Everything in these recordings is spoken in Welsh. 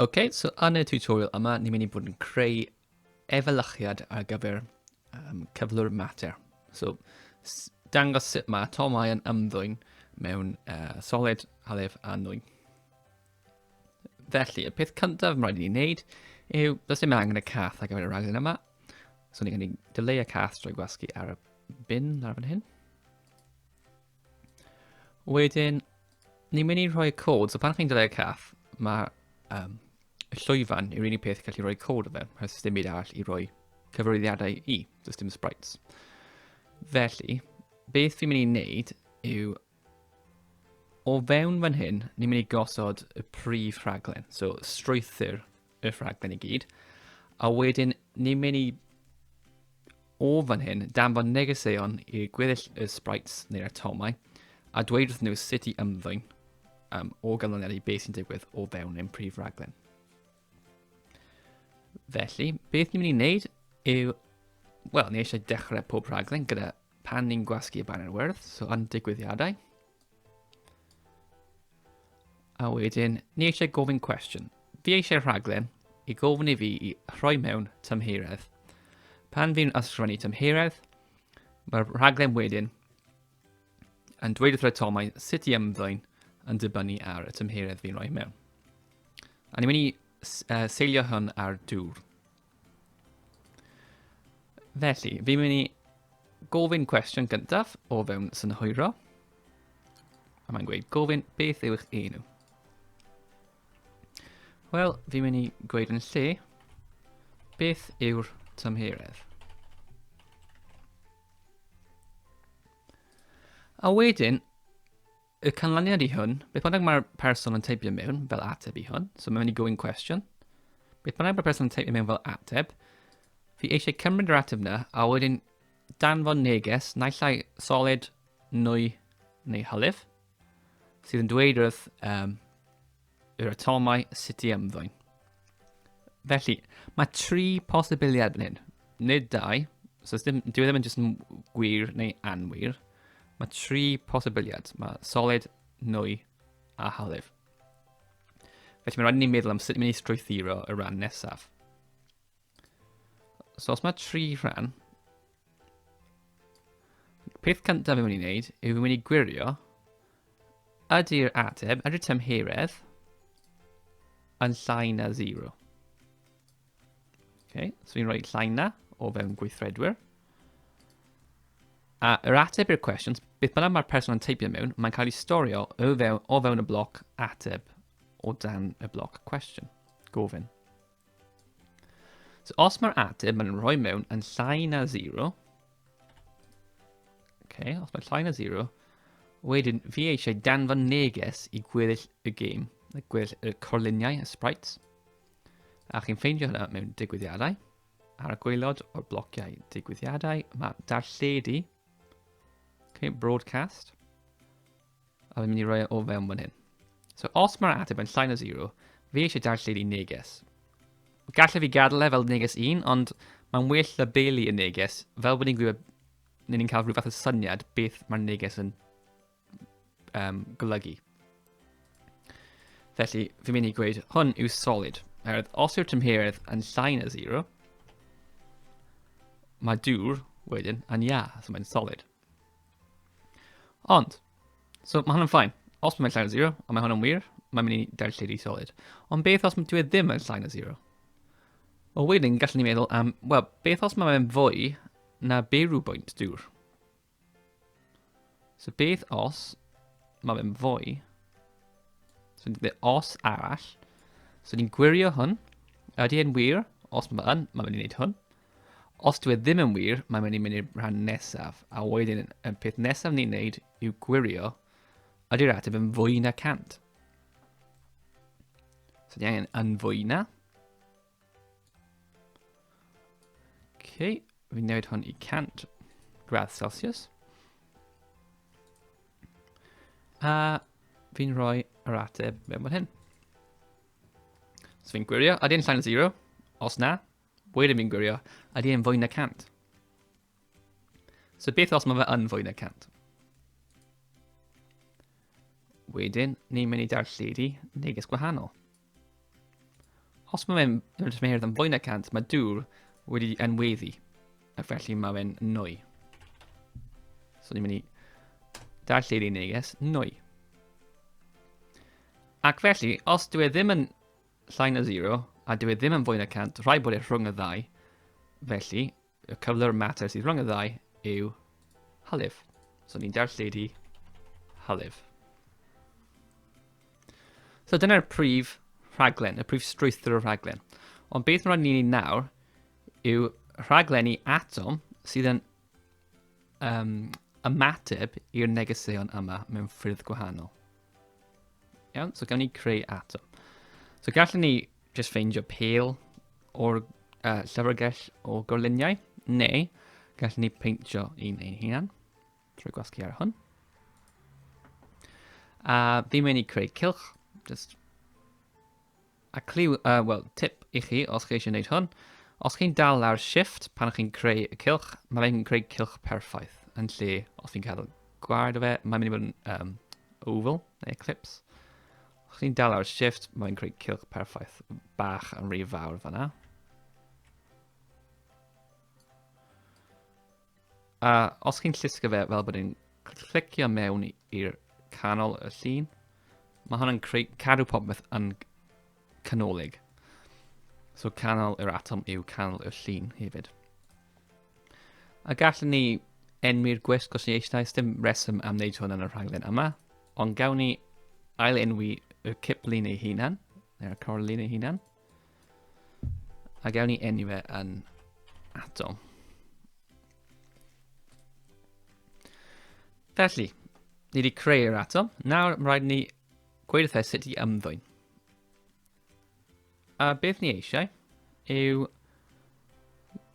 Ok, so yn y tutorial yma, ni'n mynd i bod yn creu efelychiad ar gyfer um, cyflwr mater. So, dangos sut mae atomau yn ymddwyn mewn uh, solid, halef a nwy. Felly, y peth cyntaf mae'n rhaid i ni wneud yw, does dim angen y cath ar gyfer y rhaglen yma. So, ni'n mynd i dyleu y cath drwy gwasgu ar y bin ar fan hyn. Wedyn, Ni'n mynd i rhoi y cod, so pan chi'n dylai y cath, mae um, y llwyfan yw'r unig peth gallu rhoi cod o fe, rhaid dim byd arall i roi cyfarwyddiadau i, does dim sprites. Felly, beth fi'n mynd i wneud yw o fewn fan hyn, ni'n mynd i gosod y prif rhaglen, so strwythyr y rhaglen i gyd. A wedyn, ni'n mynd i o fan hyn, danfon negeseuon i gweddill y sprites neu'r atomau, a dweud wrth nhw sut i ymddwyn um, o ganlyniad i beth sy'n digwydd o fewn ein prif raglen. Felly, beth ni'n mynd i wneud yw, wel, ni eisiau dechrau pob rhaglen gyda Pan ni'n gwasgu y banner wyrdd, so yn digwyddiadau. A wedyn, ni eisiau gofyn cwestiwn. Fi eisiau rhaglen i gofyn i fi i rhoi mewn tymheiredd. Pan fi'n ysgrifennu tymheiredd, mae'r rhaglen wedyn yn dweud wrth y tomau sut i ymddwyn yn dibynnu ar y tymheredd fi'n rhoi mewn. A ni'n mynd i uh, seilio hwn ar dŵr. Felly, fi'n mynd i gofyn cwestiwn gyntaf o fewn synhwyro. A mae'n gweud, gofyn beth yw eich enw? Wel, fi'n mynd i gweud yn lle, beth yw'r tymheredd? A wedyn, Y canlyniad i hwn, beth bynnag mae'r person yn teipio mewn fel ateb i hwn, so mae'n mynd i gofyn cwestiwn, beth bynnag mae'r person yn teipio mewn fel ateb, fi eisiau cymryd yr ateb yna a wedyn danfon neges naill ai solid, nwy neu hylif, sydd yn dweud wrth um, yr atomau sut i ymddwyn. Felly, mae tri posibiliad yn hyn. Nid dau, so ddim, dwi e ddim yn jyst yn gwir neu anwir. Mae tri posibiliad. Mae solid, nwy a halif. Felly mae'n rhaid i ni meddwl am sut ni'n mynd i strwythuro y rhan nesaf. So os mae tri rhan, peth cyntaf fi'n mynd i wneud yw fi'n mynd i gwirio ydy'r ateb, ydy'r tymheredd yn llai na 0. Okay, so fi'n rhoi llai na o fewn gweithredwyr. A yr ateb i'r cwestiwn, beth bynnag mae'r person yn teipio mewn, mae'n cael ei storio o fewn, o fewn y bloc ateb o dan y bloc cwestiwn, gofyn. So os mae'r ateb yn rhoi mewn yn llai na 0, okay, os mae'n llai na 0, wedyn fi eisiau danfon neges i gweddill y gêm, y gweddill y corluniau, y sprites. A chi'n ffeindio hynna mewn digwyddiadau. Ar y gweilod o'r blociau digwyddiadau, mae darlledu, okay, broadcast, A fi'n mynd i roi e o fewn fan hyn. So os mae'r ateb yn llai na 0, fi eisiau darlledu i neges. Gallai fi gadael e fel neges 1, ond mae'n well labelu y neges, fel bod ni'n gwybod, neu ni'n cael rhyw fath o syniad beth mae'r neges yn um, golygu. Felly, fi'n mynd i gweud, hwn yw solid. Oherwydd, os yw'r tymheredd yn llai na 0, mae dŵr wedyn yn ia, so mae'n solid. Ond, so mae hwn yn ffain. Os mae'n llai na 0, a mae hwn yn wir, mae'n mynd i dal lle di solid. Ond beth os dwi e ddim yn llai na 0? O wedyn, gallwn ni meddwl am, wel, beth os mae'n fwy na byw bwynt dŵr? So beth os mae'n fwy? So ni'n gwneud os arall. So ni'n gwirio hwn. Ydy e'n wir? Os mae'n yn, mae'n mynd i wneud hwn. Os dwi e ddim yn wir, mae'n mynd i mynd i'r rhan nesaf, a wedyn y peth nesaf ni'n neud yw gwirio ydy'r ateb yn fwy na 100. So ni angen yn fwy na. Okay, fi'n newid hwn i 100 gradd Celsius. A fi'n rhoi yr ateb mewn fan hyn. So fi'n gwirio, ydy'n llain o 0? Os na, Wedyn fi'n gwirio, ydy e'n fwy na 100? So beth os mae fe yn fwy na 100? Wedyn, ni'n mynd i darlledu neges gwahanol. Os mae fe'n rhywbeth yn fwy na 100, mae dŵr wedi enweddu, a felly mae fe'n nwy. So ni'n mynd i darllen ei neges nwy. Ac felly, os dwi e ddim yn Llai na zero, a dyw e ddim yn fwy na 100, rhaid bod e rhwng y ddau. Felly, y cyflwr mater sydd rhwng y ddau yw halif. So ni'n darlledu halif. So dyna'r prif rhaglen, y prif strwythur o rhaglen. Ond beth mae'n ni'n ei nawr yw rhaglenni atom sydd yn um, ymateb i'r negeseuon yma mewn ffyrdd gwahanol. Iawn, so gawn ni creu atom. So gallwn ni just ffeindio pel o'r uh, llyfrgell o gorluniau, neu gallwn ni peintio un ein hunan trwy gwasgu ar hwn. A fi'n mynd i creu cilch, just A cliw, uh, wel, tip i chi os chi eisiau gwneud hwn, os chi'n dal ar shift pan chi'n creu y cilch, mae fe'n creu cilch perffaith, yn lle os fi'n cael gwared o fe, mae'n mynd i fod yn um, oval, neu eclipse. Os chi'n dal ar shift, mae'n creu cilch perffaith bach yn rhy fawr fanna. A os chi'n llusgo fe fel bod yn clicio mewn i'r canol y llun, mae hwnna'n creu cadw popeth yn canolig. So canol yr atom yw canol y llun hefyd. A gallwn ni enwi'r gwisg os ni eisiau, dim reswm am wneud hwn yn y rhaglen yma, ond gawn ni ail enwi y ciplun ei hunan, neu'r corlun ei hunan. A gawn ni enw fe yn atom. Felly, ni wedi creu'r atom. Nawr, mae rhaid ni gweud wrthau sut i ymddwyn. A beth ni eisiau yw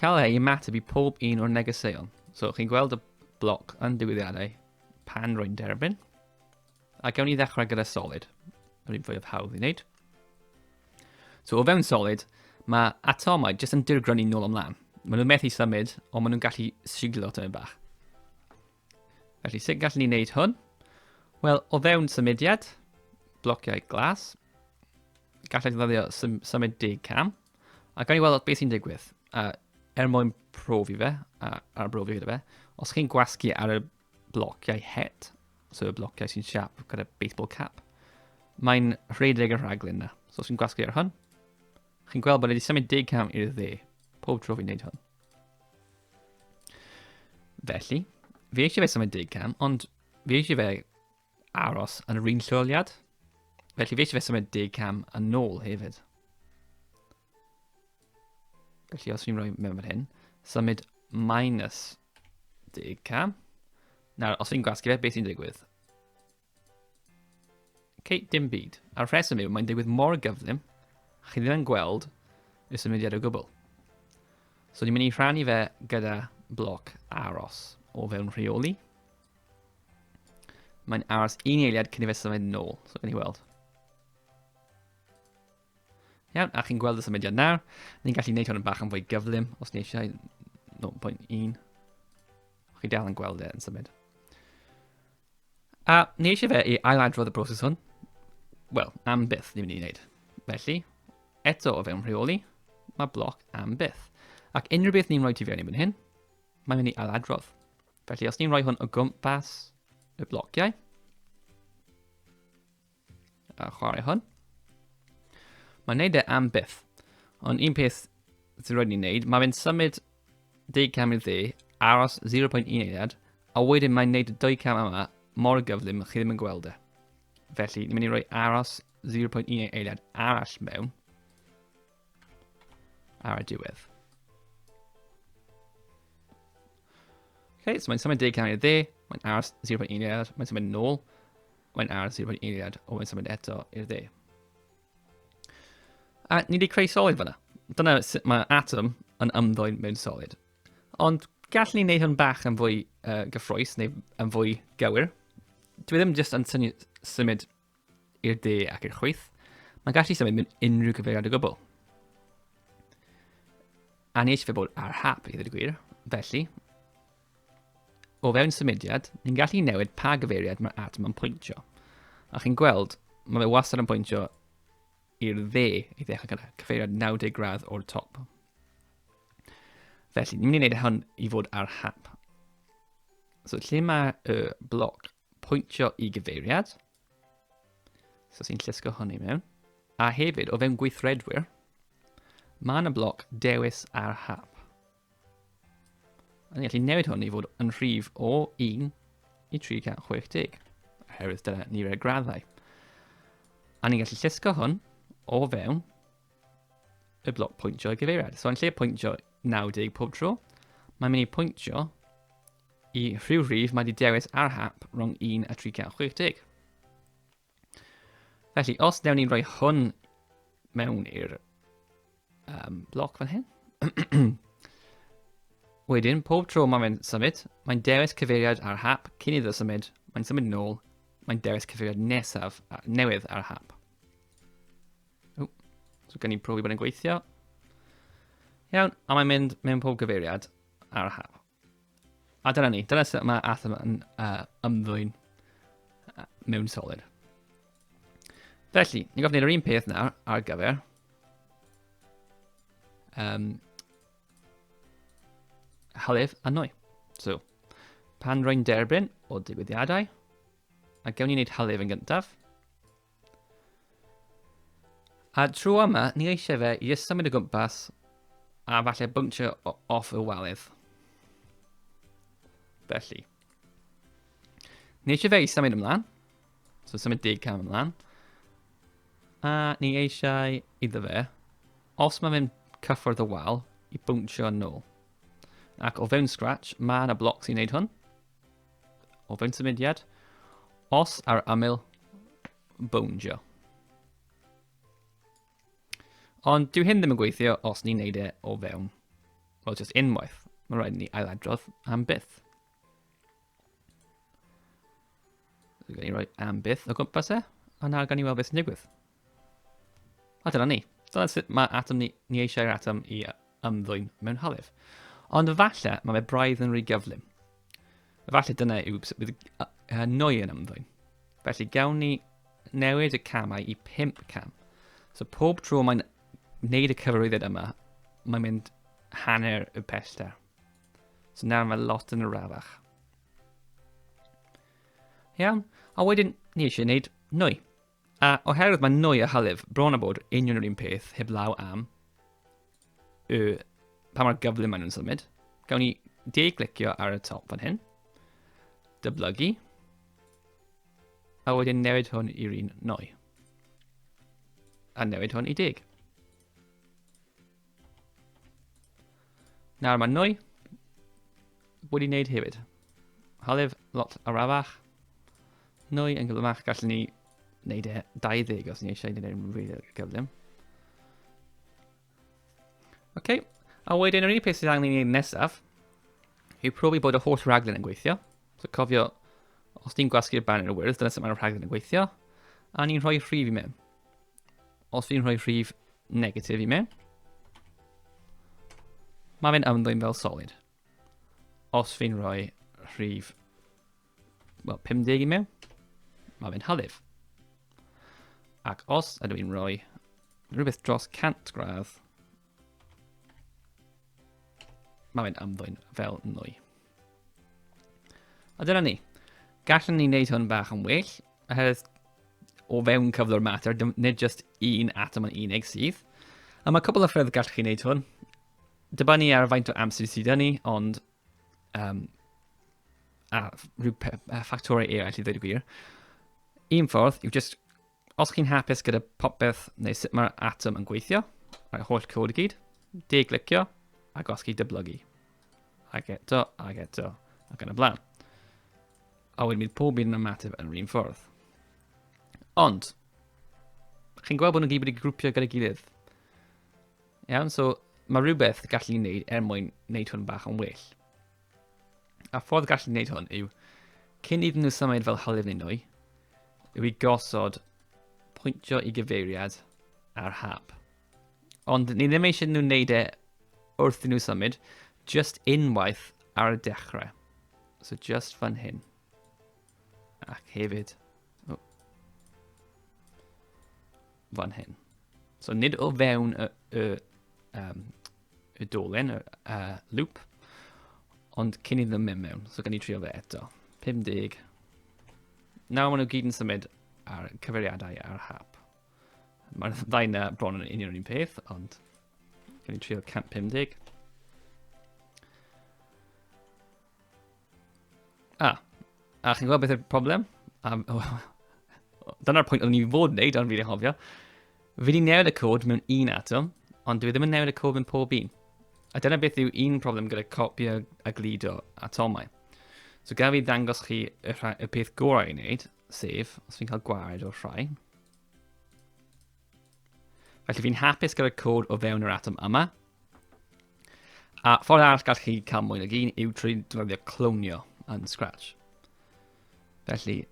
cael ei ymateb i pob un o'r negeseuon. So, chi'n gweld y bloc yn diwyddiadau pan rwy'n derbyn. A gawn ni ddechrau gyda solid, yr un fwyaf hawdd i wneud. So o fewn solid, mae atomau jyst yn dirgrynu nôl ymlaen. Maen nhw'n methu symud, ond maen nhw'n gallu siglo tymyn bach. Felly, sut gallwn ni wneud hwn? Wel, o fewn symudiad, blociau glas, gallai ddefnyddio sym symud deg cam, a gawn ni weld beth sy'n digwydd. A er mwyn profi fe, a arbrofi gyda fe, os chi'n gwasgu ar y blociau het, so y blociau sy'n siap gyda baseball cap. Mae'n rhedeg y rhaglen na. So os chi'n gwasgu ar hwn, chi'n gweld bod wedi symud 10 cam i'r dde, pob tro fi'n neud hwn. Felly, fi eisiau fe symud 10 cam, ond fi eisiau fe aros yn yr un lleoliad. Felly fi eisiau fe symud 10 cam yn ôl hefyd. Felly os fi'n rhoi mewn fan hyn, symud minus 10 cam. Nawr, os fi'n gwasgu fe, beth sy'n digwydd? Okay, dim byd. A'r rheswm yw, mae'n digwydd mor gyflym, chi ddim yn gweld y symudiad o gwbl. So ni'n mynd i rhannu fe gyda bloc aros o fewn rheoli. Mae'n aros un eiliad cyn i fe symud nôl, so gan i weld. Iawn, a chi'n gweld y symudiad nawr. Ni'n gallu gwneud hwn yn bach yn fwy gyflym os ni eisiau 0.1. Chi dal yn gweld e yn symud. A ni eisiau fe i ailadrodd y broses hwn. Wel, am byth ni'n mynd i wneud. Felly, eto o fewn rheoli, mae bloc am byth. Ac unrhyw beth ni'n rhoi ti fewn i mynd hyn, mae'n mynd i ailadrodd. Felly, os ni'n rhoi hwn o gwmpas y blociau, A chwarae hwn. Mae'n neud e am byth. Ond un peth sy'n rhaid ni'n neud, mae fe'n symud 10 cam i'r dde, aros 0.1 eiliad, a wedyn mae'n neud y 2 cam yma mor gyflym chi ddim yn gweld e. Felly, ni'n mynd i roi aros 0.1 eiliad arall mewn ar y diwedd. Okay, so mae'n symud 10 cam i'r dde, mae'n aros 0.1 eiliad, mae'n symud nôl, mae'n aros i roi eiliad o yn symud eto i'r dde. A ni wedi creu solid fyna. Dyna sut mae atom yn ymddwyn mewn solid. Ond gallwn ni wneud hwn bach yn fwy uh, gyffroes neu yn fwy gywir. Dwi ddim jyst yn syni, symud i'r de ac i'r chwyth. Mae'n gallu symud mewn unrhyw gyfeiriad o gwbl. A ni eisiau fe bod ar hap i ddweud y gwir, felly O fewn symudiad, ni'n gallu newid pa gyfeiriad mae'r atom yn pwyntio. A chi'n gweld, mae fe wastad yn pwyntio i'r dde i ddechrau gyda cyfeiriad 90 gradd o'r top. Felly, ni'n mynd i wneud hwn i fod ar hap. So, lle mae y bloc pwyntio i gyfeiriad, so sy'n llusgo hwn i mewn, a hefyd o fewn gweithredwyr, mae yna bloc dewis ar hap. A ni'n gallu newid hwn i fod yn rhif o 1 i 360, oherwydd dyna ni rhaid graddau. A ni'n gallu llusgo hwn o fewn y bloc pwyntio i gyfeiriad. So yn lle pwyntio 90 pob tro, mae'n mynd i pwyntio i rhyw rhif mae wedi dewis ar hap rhwng 1 a 360. Felly, os dewn ni'n rhoi hwn mewn i'r um, bloc fan hyn. Wedyn, pob tro mae'n mynd symud, mae'n dewis cyfeiriad ar hap cyn iddo symud, mae'n symud nôl, mae'n dewis cyfeiriad nesaf newydd ar hap. O, so gen i'n profi bod yn gweithio. Iawn, a mae'n mynd mewn pob cyfeiriad ar hap. A dyna ni, dyna sut mae Athena yn uh, ymddwyn uh, mewn solid. Felly, ni'n gofyn gwneud yr un peth nawr ar gyfer um, halef a nwy. So, pan rwy'n derbyn o digwyddiadau, a gewn ni wneud halef yn gyntaf, A trwy yma, ni eisiau fe i ysaf mynd o gwmpas a falle bwntio off y walydd. Felly. Ni eisiau fe i symud ymlaen. So symud deg cam ymlaen. A ni eisiau iddo fe, os mae fe'n cyffwrdd y wal, i bwntio yn ôl. Ac o fewn Scratch, mae yna bloc sy'n neud hwn. o fewn symudiad. Os ar aml, bowndio. Ond dyw hyn ddim yn gweithio os ni'n neud e o fewn, wel, just unwaith. Mae'n rhaid ni ailadrodd am byth. Gan ni roi am byth o gwmpas e, a nawr gan ni weld beth sy'n digwydd. A dyna ni. Dyna sut mae atom ni, ni eisiau'r atom i ymddwyn mewn halef. Ond efallai mae fe braidd yn rhy gyflym. Efallai dyna yw sut bydd nwy yn ymddwyn. Felly gawn ni newid y camau i 5 cam. So pob tro mae'n wneud y cyfarwyddiad yma, mae'n mynd hanner y pellter. So nawr mae lot yn y rafach. Iawn, a wedyn ni eisiau gwneud nwy. A oherwydd mae nwy a hylif bron a bod union yr un peth heb law am y pa mor gyflym maen nhw'n symud, gawn ni de-glicio ar y top fan hyn, dyblygu, a wedyn newid hwn i'r un nwy, a newid hwn i deg. Nawr mae nwy wedi wneud hefyd. Halef lot arafach. Nwy yn gyflymach, gallwn ni wneud e 20 os ni eisiau wneud e'n rili gyflym. Oce, okay. a wedyn yr unig peth sydd angen i ni wneud nesaf yw profi bod y holl raglen yn gweithio. So cofio, os ni'n gwasgu'r banner y wyrdd, dyna sut mae'r rhaglen yn gweithio, a ni'n rhoi rhif i mewn. Os fi'n rhoi rhif negatif i mewn, mae fe'n ymddwyn fel solid. Os fi'n rhoi rhif well, 50 i mewn, mae fe'n halif. Ac os ydw i'n rhoi rhywbeth dros 100 gradd, mae fe'n ymddwyn fel nwy. A dyna ni. Gallwn ni wneud hwn bach yn well, oherwydd o fewn cyflwr mater, nid just un atom yn unig sydd. A mae cwbl o ffyrdd gallwch chi wneud hwn. Dibynnu ar faint o amser sydd yn ni, ond um, a rhyw ffactorau eraill i ddweud y gwir. Un ffordd yw just Os chi'n hapus gyda popeth neu sut mae'r atom yn gweithio, a'r holl cod i gyd, de-glicio a gosgi dyblygu. Ac eto, ac eto, ac yn y blaen. A wedyn bydd pob un yn ymateb yn rhywun ffordd. Ond, chi'n gweld bod nhw'n gyd wedi grwpio gyda'i gilydd. Iawn, so mae rhywbeth gallu ni wneud er mwyn wneud hwn bach yn well. A ffordd gallu gwneud hwn yw, cyn iddyn nhw symud fel hylif neu nwy, yw i gosod pwyntio i gyfeiriad ar hap. Ond ni ddim eisiau nhw wneud e wrth i nhw symud, just unwaith ar y dechrau. So just fan hyn. Ac hefyd... Oh. Fan hyn. So nid o fewn y, y, um, y dolen, y uh, loop, ond cyn i ddim mynd mewn. So gan i trio fe eto. 50. Nawr maen nhw gyd yn symud ar cyfeiriadau ar hap. Mae'r ddau na bron yn union un peth, ond gan i trio 150. A, a chi'n gwybod beth yw'r problem? Um, oh, Dyna'r pwynt oeddwn i fod yn neud, ond fi wedi hofio. Fi wedi newid y cod mewn un atom, ond dwi e ddim yn newid y cod mewn pob un. A dyna beth yw un problem gyda copio a glido atomau. So gaf i ddangos chi y, rha, y peth gorau i wneud, sef, os fi'n cael gwared o'r rhai, Felly fi'n hapus gyda'r cod o fewn yr atom yma. A ffordd arall gall chi cael mwy nag un yw trwy defnyddio clonio yn Scratch. Felly,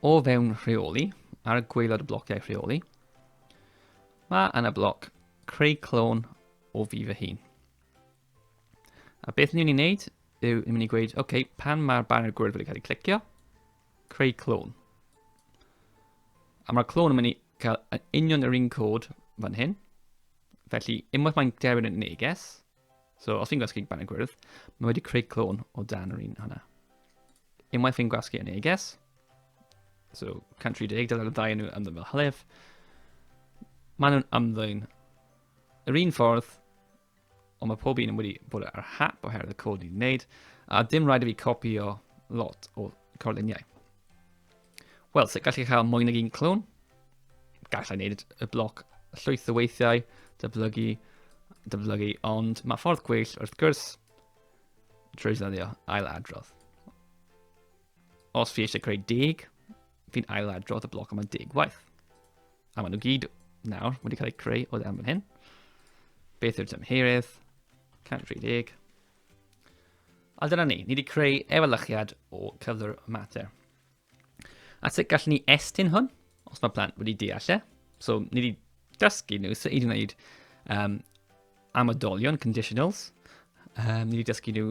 o fewn rheoli, ar y gweilod y blociau rheoli, mae yna bloc creu clon o fi fy hun. A beth ni'n ei wneud yw ni'n mynd i gweud, oce, okay, pan mae'r banner gwyrdd wedi cael ei clicio, Creu clone. A mae'r clone yn mynd i cael yn union yr un cod fan hyn. Felly, unwaith mae'n derbyn yn neges, so os fi'n gwasgu ban y gwyrdd, mae wedi creu clone o dan yr un hwnna. Unwaith fi'n gwasgu yn neges, so 130, dyna'r ddau nhw ymddyn fel hylif, maen nhw'n ymddyn yr un ffordd Ond mae pob un yn wedi bod ar y hap oherwydd y cod i wneud, a dim rhaid i fi copio lot o corluniau. Wel, sut gallu cael mwy nag un clwn? Gallai wneud y bloc llwyth o weithiau, dyblygu, dyblygu, ond mae ffordd gweill wrth gwrs trwy ddyddio ail adrodd. Os fi eisiau creu deg, Fi'n ail adrodd y bloc yma'n deg waith. A maen nhw gyd nawr wedi cael eu creu o ddewn fan hyn. Beth yw'r tymherydd? 130. A dyna ni, ni wedi creu efelychiad o cyflwr mater. A sut gallwn ni estyn hwn, os mae plant wedi deall e. So, ni wedi dysgu nhw sut i wneud um, amadolion, conditionals. Um, ni wedi dysgu nhw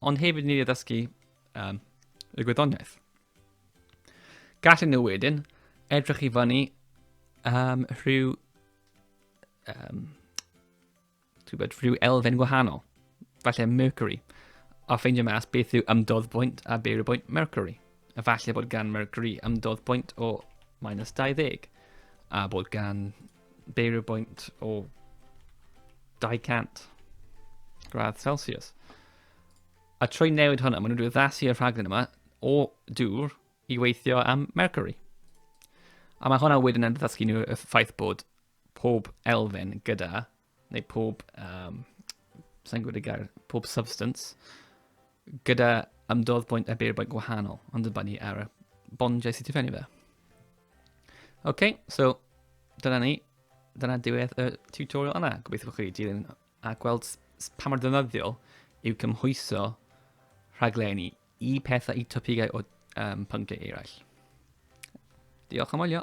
ond hefyd ni addysgu um, y gwyddoniaeth. Gallen nhw wedyn edrych i fyny um, rhyw, um, bod, rhyw elfen gwahanol, falle Mercury, a ffeindio mas beth yw ymdodd bwynt a beir y bwynt Mercury. A falle bod gan Mercury ymdodd bwynt o minus 20, a bod gan beirio bwynt o 200 gradd Celsius. A trwy newid hwnna, maen nhw'n addasu y rhaglen yma o dŵr i weithio am Mercury. A mae hwnna wedyn yn ddysgu nhw y ffaith bod pob elfen gyda neu pob, um, sa'n gwybod y gair, pob substance, gyda ymdodd bwynt a beir bwynt gwahanol, ond yn bannu ar y bondiau sydd tifennu fe. OK, so dyna ni. Dyna diwedd y tutorial yna. Gobeithio bod chi wedi dilyn a gweld pa mor ddynyddiol yw cymhwyso rhaglenni i pethau, i topigau o um, pynciau eraill. Diolch am wylio.